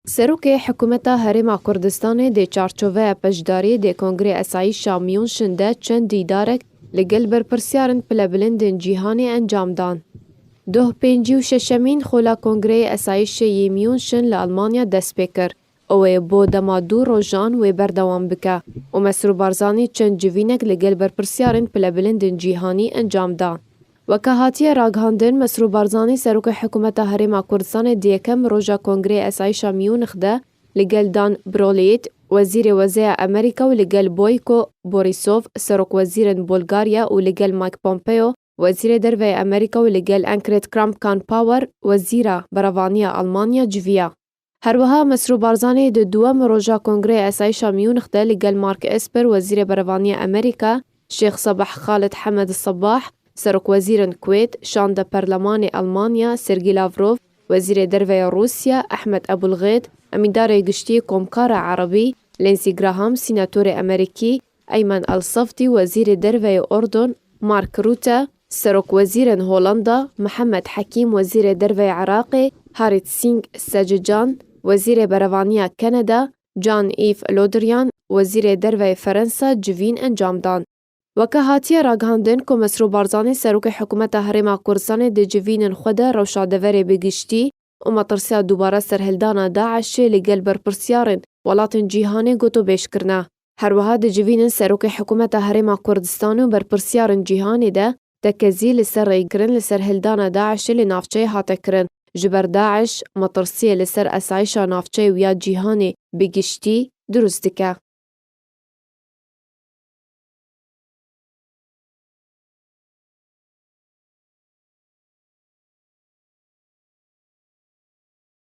Serokê Hikûmeta Herêma Kurdistanê dê çarçoveya beşdariyê dê Kongrê Esayîşa Mûnşin de çend dîdarek li gel berpirsiyarên pilebilindên cîhanê encam dan. Doh pêncî û şeşemîn Xola Kongreyê Esayîşê yê Mûnşin li Elmanya dest pê kir û wê bo dema du rojan wê berdewam bike û Mesrûr Barzanî çend civînek li gel berpirsiyarên pilebilindên cîhanî encam da. Weke hatiye ragihandin, Mesrûr Barzanî Serokê Hikûmeta Herêma Kurdistanê di yekem roja Kongreyê Esayîşa Mûnix de li gel Dan Brolleit, Wezîrê Wezeya Amerîka û li gel Boyko Borîsov, Serokwezîrên Bulgarya û li gel Mike Pompeo, Wezîrê Derveyê Amerîka û li gel Ankret Kramp-Karnpauer, Wezîra Beravaniya Almanya civiya. Her wiha Mesrûr Barzanî di duwem roja Kongreya Esayîşa Mûnix de li gel Mark Esper Wezîrê Berevaniya Amerîka, Şêx Sabah Khaled Hamed Sabah, Serokwezîrên Kuwêt, şande Perlemanê Elmanya, Sergî Lavrov, Wezîrê Derve ya Rûsya, Ehmed Ebûlgêt, Emîndarê Giştî Komkara Erebî, Lindsey Graham, Sînatorê Amerîkî, Eymen Elsafdî Wezîrê Derveyê Ordon, Mark Rutte, Serokwezîrên Holanda, Mihemed Hekîm Wezîrê Derveyê Iraqê, Harit Singh Sejecan, Wezîrê Berevaniya Kanada, Jean-Yves Le Drian, Wezîrê Derveyê Ferensa civîn encam dan. Weke hatiye ragihandin ku Mesrûr Barzanî Serokê Hikûmeta Herêma Kurdistanê di civînên xwe de rewşa deverê bi giştî û metirsiya dubare serhildana DAIŞ'ê li gel berpirsyarên welatên cîhanê gotûbêj kirine. Herwiha di civînên Serokê Hikûmeta Herêma Kurdistanê û berpirsiyarên cîhanê de tekezî li ser rêkirin li ser hildana DAIŞ'ê li navçeyê hate kirin. Ji ber DAIŞ metirsiyê li ser esayîşa navçeyê û ya cîhanê bi giştî dirûst dike.